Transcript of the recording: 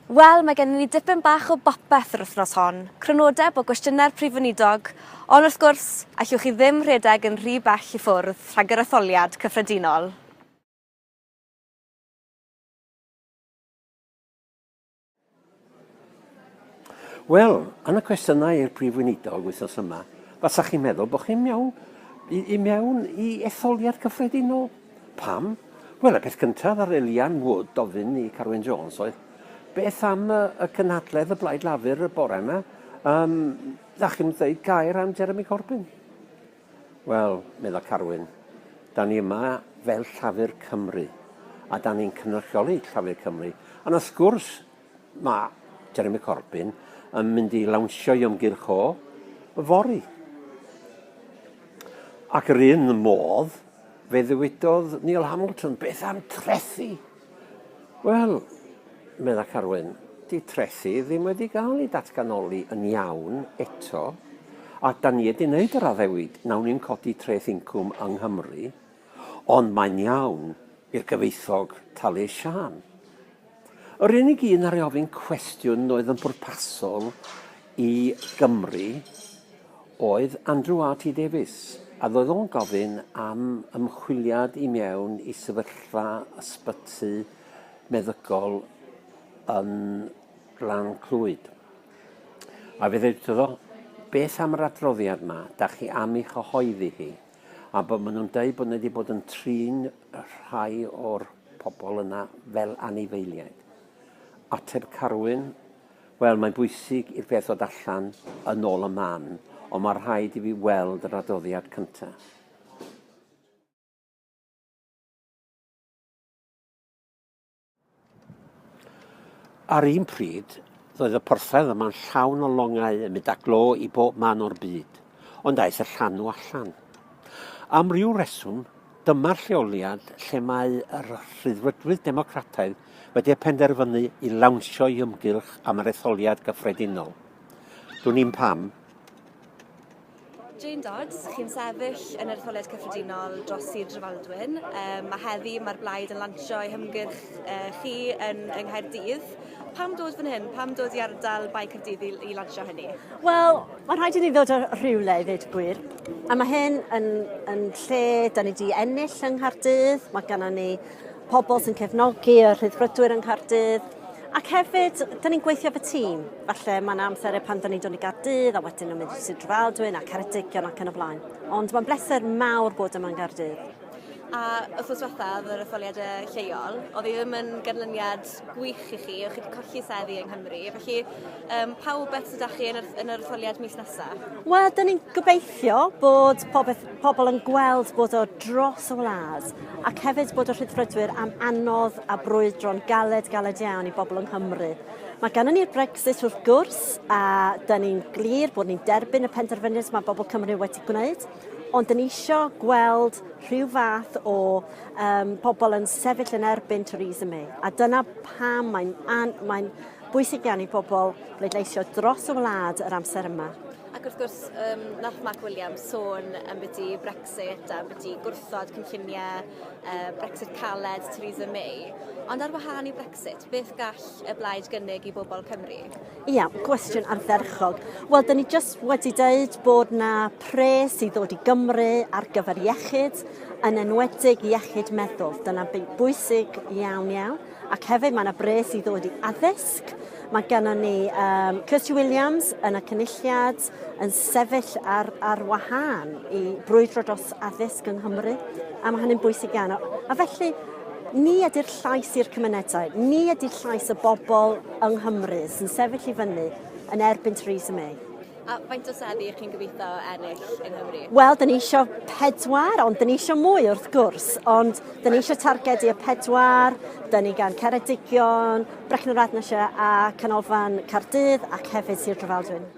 Wel, mae gennym ni dipyn bach o bopeth yr wythnos hon, crynodeb o gwestiynau'r Prif Weinidog, ond wrth gwrs, allwch chi ddim rhedeg yn rhy bell i ffwrdd rhag yr etholiad cyffredinol. Wel, yn y cwestiynau i'r Prif Weinidog wythnos yma, fasach chi'n meddwl bod chi'n mewn i, i mewn i etholiad cyffredinol. Pam? Wel, y peth cyntaf ar Elian Wood ofyn i Carwyn Jones oedd, beth am y, y cynhadledd y Blaid Lafur y bore yma? Um, da chi'n dweud gair am Jeremy Corbyn? Wel, medda Carwyn, da ni yma fel Llafur Cymru, a da ni'n cynrychioli Llafur Cymru. A na sgwrs, Mae Jeremy Corbyn yn mynd i lawnsio'i ymgyrch o fory. Ac yr un modd, fe ddywedodd Neil Hamilton, beth am trethi? Wel, medda Carwyn, di trethi ddim wedi cael ei datganoli yn iawn eto, a da ni wedi wneud yr addewid, nawn ni'n codi treth incwm yng Nghymru, Ond mae'n iawn i'r gyfoethog talu ei siân. Yr unig un ar ei ofyn cwestiwn oedd yn bwrpasol i Gymru oedd Andrew RT Davies, a ddoedd o'n gofyn am ymchwiliad i mewn i sefyllfa ysbyty meddygol yn Glan Clwyd. A fe ddeud iddo, beth am yr adroddiad yma, da chi am ei chyhoeddi hi? A bod maen nhw'n dweud bod nhw wedi bod yn trin rhai o'r pobl yna fel anifeiliaid. Ateb Carwyn, wel mae'n bwysig i'r peth ddod allan yn ôl y man, ond mae rhaid i fi weld yr adoddiad cyntaf. Ar un pryd, roedd y porthladd yma'n llawn o longau yn mynd â glo i bob man o'r byd, ond aeth y llanw allan. Am ryw reswm, dyma'r lleoliad lle mae yr Rhyddfrydwyr Democrataidd wedi y penderfynu i lawnsio i ymgylch am yr etholiad gyffredinol. Dwn i'n pam. Jane Dodds, chi'n sefyll yn yr Etholiad Cyffredinol dros Sir Drefaldwyn. Um, mae heddi mae'r blaid yn lansio ei hymgyrch uh, chi yn yng Nghaerdydd. Pam dod fan hyn? Pam dod i ardal Bae Caerdydd i, i lansio hynny? Wel, mae'n rhaid i ni ddod o rhywle i ddweud gwir. A mae hyn yn, yn lle, da ni wedi ennill yng Nghaerdydd, mae gennym ni pobl sy'n cefnogi y rhyddfrydwyr yng Nghaerdydd, ac hefyd, dyn ni'n gweithio fy tîm. Falle mae'n amser pan dyn ni'n dod i Gaerdydd a wedyn yn mynd i Sir Drefaldwyn a Ceredigion ac yn y blaen. Ond mae'n bleser mawr bod yma yn Gaerdydd. A wythnos diwethaf, yr etholiadau lleol, oedd hi ddim yn ganlyniad gwych i chi, chi wedi colli seddi yng Nghymru, felly um, pa wybeth sydd â chi yn yr, yn yr etholiad mis nesaf? Wel, dyn ni'n gobeithio bod pobeth, pobl yn gweld bod o dros y wlad ac hefyd bod y rhydfrydwyr am anodd a brwydro'n galed, galed iawn i bobl yng Nghymru. Mae gan ni'r Brexit wrth gwrs a dyn ni'n glir bod ni'n derbyn y penderfyniad mae bobl Cymru wedi gwneud. ond yn isio gweld rhyw fath o um, pobl yn sefyll yn erbyn Theresa May. A dyna pam mae'n mae bwysig iawn i bobl bleidleisio dros y wlad yr amser yma. Ac wrth gwrs, um, nath Mark Williams sôn am beth i Brexit a beth i gwrthod cynlluniau uh, Brexit caled Theresa May. Ond ar wahân i Brexit, beth gall y blaid gynnig i bobl Cymru? Ia, gwestiwn ardderchog. Wel, da ni jyst wedi dweud bod na pres i ddod i Gymru ar gyfer iechyd, yn enwedig iechyd meddwl. Dyna bwysig iawn iawn. Ac hefyd mae yna bres i ddod i addysg. Mae gennym ni um, Kirsty Williams yn y cynulliad, yn sefyll ar, ar wahân i brwydro dros addysg yng Nghymru, a mae hynny'n bwysig iawn. A felly, ni ydy'r llais i'r cymunedau, ni ydy llais y bobl yng Nghymru sy'n sefyll i fyny yn erbyn Theresa May. A faint o seddi ych chi'n gobeithio ennill yng Nghymru? Wel, dyn ni eisiau pedwar, ond dyn ni eisiau mwy wrth gwrs, ond dyn ni eisiau targedu y pedwar, dyn ni gan Ceredigion, Brecon yr Adnasio a Canolfan Cardydd ac hefyd Sir Drefaldwyn.